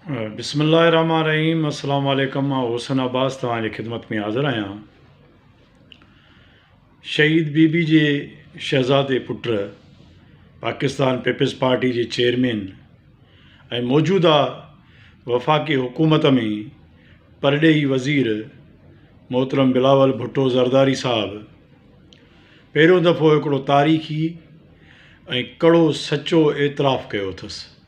بسم الله الرحمن الرحيم السلام عليڪم مان حسن عباس توهان جي خدمت ۾ حاضر آهيان شهيد بي بي جي شهزادي پٽ پاڪستان پيپلز پارٽي جي چيئرمين ۽ موجوده وفاقي حڪومت ۾ پرڏيهي وزير محترم بلاول ڀٽو زرداري صاحب پهريون دفعو هڪڙو تاريخي ۽ ڪڙو سچو اعتراف ڪيو اٿس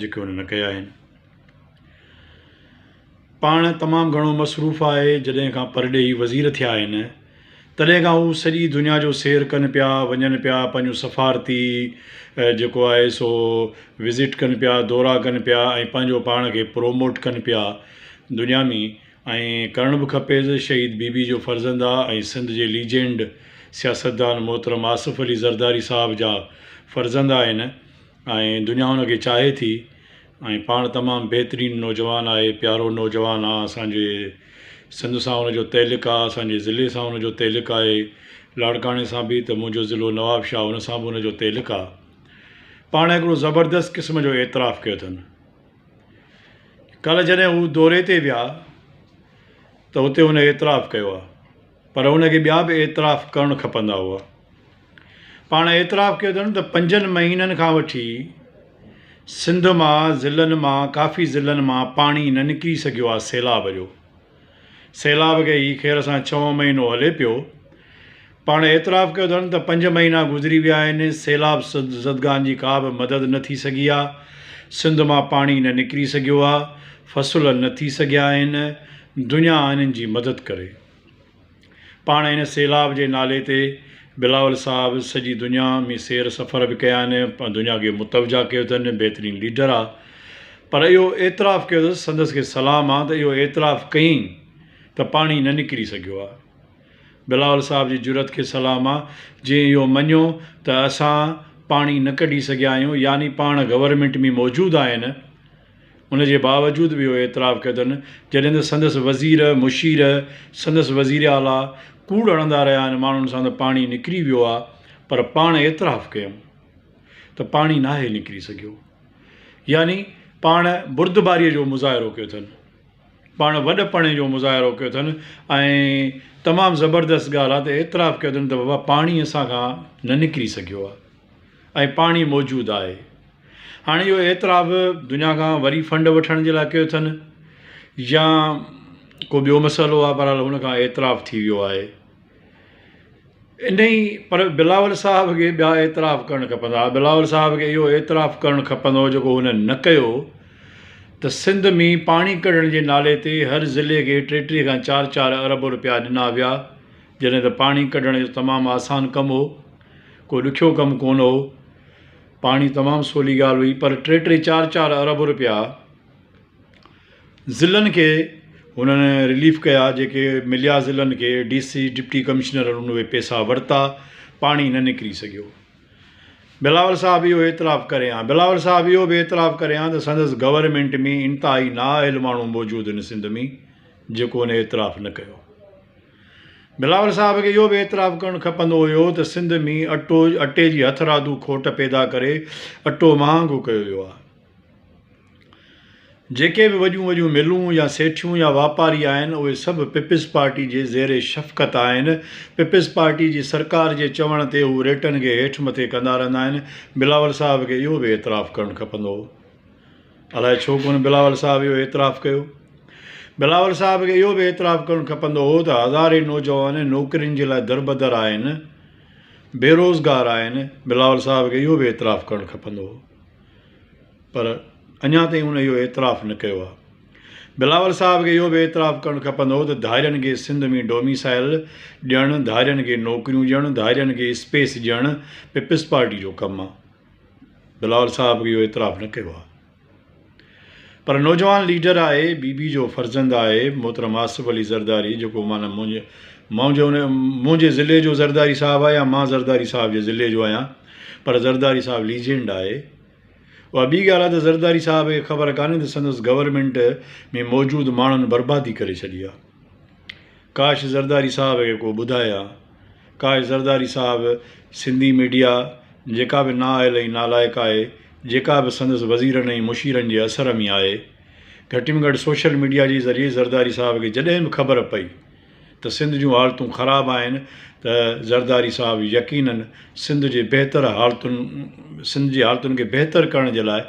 جيڪي هن نه ڪيا آهن. پاڻ تمام گهڻو مصروف آهي، جڏهن کان پرڏيهي وزير ٿيا آهن، تڏهن کان هو سڄي دنيا جو سير ڪن پيا، وڃن پيا، پنهنجون سفارتي جيڪو آهي سو وزٽ ڪن پيا، دورا ڪن پيا ۽ پنهنجو پاڻ کي پروموٽ ڪن پيا دنيا ۾ ۽ ڪرڻ به کپيس، شهيد بي بي جو فرزند آ ۽ سنڌ جي ليجينڊ سياستدان محترم آصف علي زرداري صاحب جا فرزند آهن. ۽ دنيا ان کي چاهي ٿي ۽ پاڻ تمام بهترين نوجوان آهي پيارو نوجوان آ اسانجي سنڌ سان ان جو تعلق آ اسانجي ضلعي سان ان جو تعلق آهي لاڙڪاڻي سان به ته منهنجو ضلعو نوابشاهه ان سان به ان جو تعلق آ پاڻ هڪڙو زبردست قسم جو اعتراف ڪيو اٿن ڪل جڏهن هو دوري تي ويا ته هتي هن اعتراف ڪيو آ پر هن کي ٻيا به اعتراف ڪرڻ کپندا هئا پاڻ اعتراف ڪيو اٿن ته پنجن مهينن کان وٺي سنڌ مان ضلعن مان ڪافي ضلعن مان پاڻي نه نڪري سگهيو آهي سيلاب جو سيلاب کي هي خير سان ڇهون مهينو هلي پيو پاڻ اعتراف ڪيو اٿن ته پنج مهينا گذري ويا آهن سيلاب زدگان جي ڪا به مدد نه ٿي سگهي آهي سنڌ مان پاڻي نه نڪري سگهيو آهي فصل نه ٿي سگهيا آهن دنيا انهن جي مدد ڪري پاڻ هن سيلاب جي نالي تي بلاول صاحب سڄي دنيا ۾ سير سفر به ڪيا آهن پر دنيا کي متوجه ڪيو اٿن بهترين ليڊر آ پر اهو اعتراف ڪيو اٿس سندس کي سلام آ ته اهو اعتراف ڪئين ته پاڻي نه نڪري سگهيو آ بلاول صاحب جي جرئت کي سلام آ جنهن اهو مڃيو ته اسان پاڻي نه ڪڍي سگهيا آهيون يعني پاڻ گورنمينٽ ۾ موجود آهن ان جي باوجود به اهو اعتراف ڪيو اٿن، جڏهن ته سندس وزير، مشير، سندس وزير اعليٰ ڪوڙ هڻندا رهيا آهن، ماڻهن سان ته پاڻي نڪري ويو آهي، پر پاڻ اعتراف ڪيم ته پاڻي ناهي نڪري سگهيو. يعني پاڻ بردباريء جو مظاهرو ڪيو اٿن. پاڻ وڏپڻي جو مظاهرو ڪيو اٿن ۽ تمام زبردست ڳالهه آهي ته اعتراف ڪيو اٿن ته بابا پاڻي اسان کان نه نڪري سگهيو آهي ۽ پاڻي موجود آهي هاڻي اهو اعتراف دنيا کان وري فنڊ وٺڻ جي لاء ڪيو اٿن يا ڪو ٻيو مسئلو آهي بهرحال هن کان اعتراف ٿي ويو آهي انهي پر بلاول صاحب کي ٻيا اعتراف ڪرڻ کپندا ها بلاول صاحب کي اهو اعتراف ڪرڻ کپندو هو جيڪو هن نه ڪيو ته سنڌ مين پاڻي ڪڍڻ جي نالي تي هر ضلعي کي ٽي ٽي کان چار چار ارب روپيا ڏنا ويا جڏهن ته پاڻي ڪڍڻ جو تمام آسان ڪم هو ڪو ڏکيو ڪم ڪونه هو پاڻي تمام سولي ڳالهه هئي پر ٽي ٽي چار چار ارب روپيا ضلعن کي هنن رليف ڪيا جيڪي مليا ضلعن کي ڊي سي ڊپٽي ڪمشنر هنن اهي پيسا ورتا پاڻي نه نڪري سگهيو بلاول صاحب اهو اعتراف ڪري ها بلاول صاحب اهو به اعتراف ڪري ها ته سندس گورنمينٽ ۾ انتهائي نااهل ماڻهو موجود هن سنڌ ۾ جيڪو هن اعتراف نه ڪيو بلاول صاحب کي اهو به اعتراف ڪرڻ کپندو هيو ته سنڌ ۾ اٽو اٽي جي هٿرادو کوٽ پيدا ڪري اٽو مهانگو ڪيو ويو آهي جيڪي به وڏيون وڏيون ملون يا سيٺيون يا واپاري آهن اهي سڀ پيپلز پارٽي جي زير شفقت آهن پيپلز پارٽي جي سرڪار جي چوڻ تي هو ريٽن کي هيٺ مٿي ڪندا رهندا آهن بلاول صاحب کي اهو به اعتراف ڪرڻ کپندو هو الائي ڇو ڪونه بلاول صاحب اهو اعتراف ڪيو بلاول صاحب کي اهو به اعتراف ڪرڻ کپندو هو ته هزارين نوجوان نوڪرين جي لاء دربدر آهن بيروزگار آهن بلاول صاحب کي اهو به اعتراف ڪرڻ کپندو هو پر اڃا تائين هن اهو اعتراف نه ڪيو آهي. بلاول صاحب کي اهو به اعتراف ڪرڻ کپندو هو ته ڌارين کي سنڌ ۾ ڊوميسائل ڏيڻ، ڌارين کي نوڪريون ڏيڻ، ڌارين کي اسپيس ڏيڻ پيپلز پارٽي جو ڪم آهي. بلاول صاحب به اهو اعتراف نه ڪيو آهي. پر نوجوان ليڊر آهي، بي بي جو فرزند آهي، محترم آصف علي زرداري جيڪو معنيٰ منهنجي ضلعي جو زرداري صاحب آهي يا مان زرداري صاحب جي ضلعي جو آهيان پر زرداري صاحب ليجينڊ آهي. اها ٻي ڳالهه آهي ته زرداري صاحب کي خبر ڪانهي ته سندس گورنمينٽ ۾ موجود ماڻهن بربادي ڪري ڇڏي آهي. ڪاش زرداري صاحب کي ڪو ٻڌائي ها. ڪاش زرداري صاحب سنڌي ميڊيا جيڪا به نااهل ۽ نالائق آهي، جيڪا به سندس وزيرن ۽ مشيرن جي اثر ۾ آهي، گهٽ ۾ گهٽ سوشل ميڊيا جي ذريعي زرداري صاحب کي جڏهن به خبر پئي، ته سنڌ جون حالتون خراب آهن ته زرداري صاحب يقينن سنڌ جي بهتر حالتن سنڌ جي حالتن کي بهتر ڪرڻ جي لاء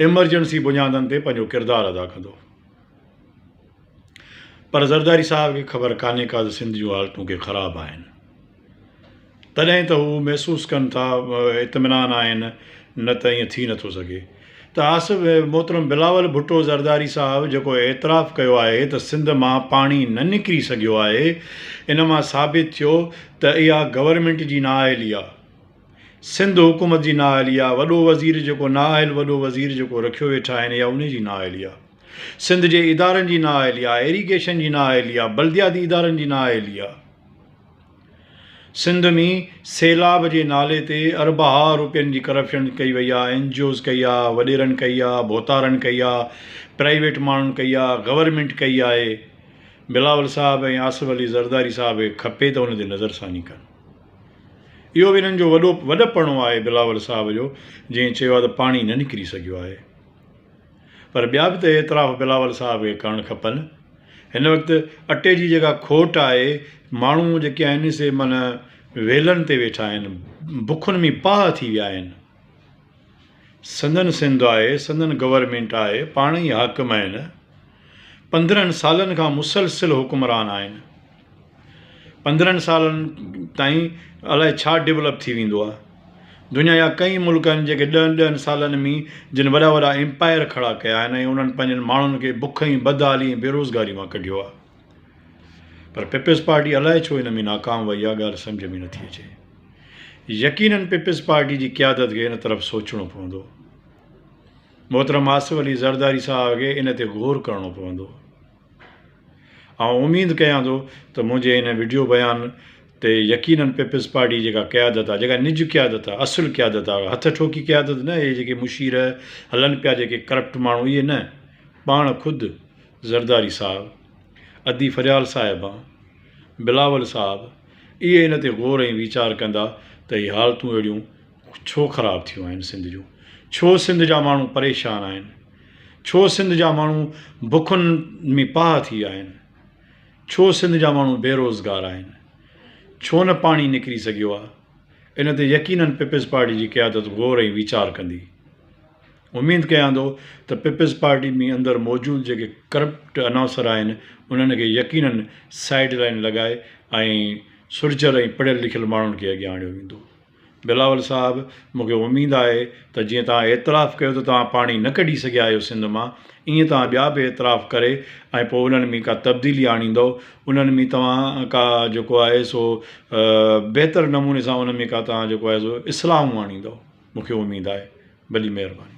ايمرجنسي بنيادن تي پنهنجو ڪردار ادا ڪندو پر زرداري صاحب کي خبر ڪانهي ڪا ته سنڌ جون حالتون ڪي خراب آهن. تڏهن ته هو محسوس ڪن ٿا اطمينان آهن نه ته ائين ٿي نٿو سگهي ته آصف محترم بلاول ڀٽو زرداري صاحب جيڪو اعتراف ڪيو آهي ته سنڌ مان پاڻي نه نڪري سگهيو آهي ان مان ثابت ٿيو ته اها گورنمينٽ جي نااهلي آهي سنڌ حڪومت جي نااهلي آهي وڏو وزير جيڪو نااهل وڏو وزير جيڪو رکيو ويٺا آهن اها ان جي نااهلي آهي سنڌ جي ادارن جي نااهلي آهي ايريگيشن جي نااهلي آهي بلدياتي ادارن جي نااهلي آهي سنڌ ۾ سيلاب جي نالي تي اربها روپين جي ڪرپشن ڪئي وئي آ اين جي اوز ڪئي آ وڏيرن ڪئي آ ڀوتارن ڪئي آ پرائيويٽ ماڻهن ڪئي آ گورنمينٽ ڪئي آهي بلاول صاحب ۽ آصف علي زرداري صاحب کي کپي ته ان تي نظر ثاني ڪن اهو به انهن جو وڏو وڏپڻو آهي بلاول صاحب جو جنهن چيو آ ته پاڻي نه نڪري سگهيو آهي. پر ٻيا به ته اعتراف بلاول صاحب کي ڪرڻ کپن. هن وقت اٽي جي جيڪا کوٽ آهي، ماڻهو جيڪي آهن سي معنيٰ ويلن تي ويٺا آهن، بکن ۾ پاهه ٿي ويا آهن. سندن سنڌ آهي، سندن گورنمينٽ آهي، پاڻ ئي حاڪم آهن، پندرهن سالن کان مسلسل حڪمران آهن. پندرهن سالن تائين الاء ڇا ڊولپ ٿي ويندو آ دنيا جا ڪئين ملڪ آهن جيڪي ڏهن ڏهن سالن مي جن وڏا وڏا امپائر کڙا ڪيا آهن ۽ انهن پنهنجن ماڻهن کي بک ۽ بدحالي ۽ بيروزگاري مان ڪڍيو آ پر پيپلز پارٽي الاء ڇو ان ۾ ناڪام وئي آ ڳالهه سمجهه ۾ نٿي اچي يقينن پيپلز پارٽي جي قيادت کي ان طرف سوچڻو پوندو محترم آصف علي زرداري صاحب کي ان تي غور ڪرڻو پوندو آئون اميد ڪيان ٿو ته منهنجي هن وڊيو بيان تي يقينن پيپلز پارٽي جيڪا قيادت آهي جيڪا نج قيادت آهي اصل قيادت آهي هٿ ٺوڪي قيادت نه اهي جيڪي مشير هلن پيا جيڪي ڪرپٽ ماڻهو اهي نه پاڻ خود زرداري صاحب ادي فريال صاحبه بلاول صاحب اهي هن تي غور ۽ ويچار ڪندا ته هي حالتون اهڙيون ڇو خراب ٿيون آهن سنڌ جون ڇو سنڌ جا ماڻهو پريشان آهن ڇو سنڌ جا ماڻهو بکن ۾ پاهه ٿي ويا آهن ڇو سنڌ جا ماڻهو بيروزگار آهن ڇو نه پاڻي نڪري سگهيو آهي ان تي يقينن پيپلز پارٽي جي قيادت غور ۽ ويچار ڪندي اميد ڪيان ٿو ته پيپلز پارٽي ۾ اندر موجود جيڪي ڪرپٽ اناصر آهن انهن کي يقينن سائيڊ لائن لڳائي ۽ سرجل ۽ پڙهيل لکيل ماڻهن کي اڳيان آڻيو ويندو بلاول صاحب مون کي اميد آهي ته جيئن توهان اعتراف ڪيو ته توهان پاڻي نه ڪڍي سگهيا آهيو سنڌ مان ايئن توهان ٻيا به اعتراف ڪري ۽ پوء انهن ۾ ڪا تبديلي آڻيندؤ انهن ۾ توهان ڪا جيڪو آهي سو بهتر نموني سان ان ۾ ڪا توهان جيڪو آهي سو اصلاحون آڻيندؤ مون کي اميد آهي وڏي مهرباني.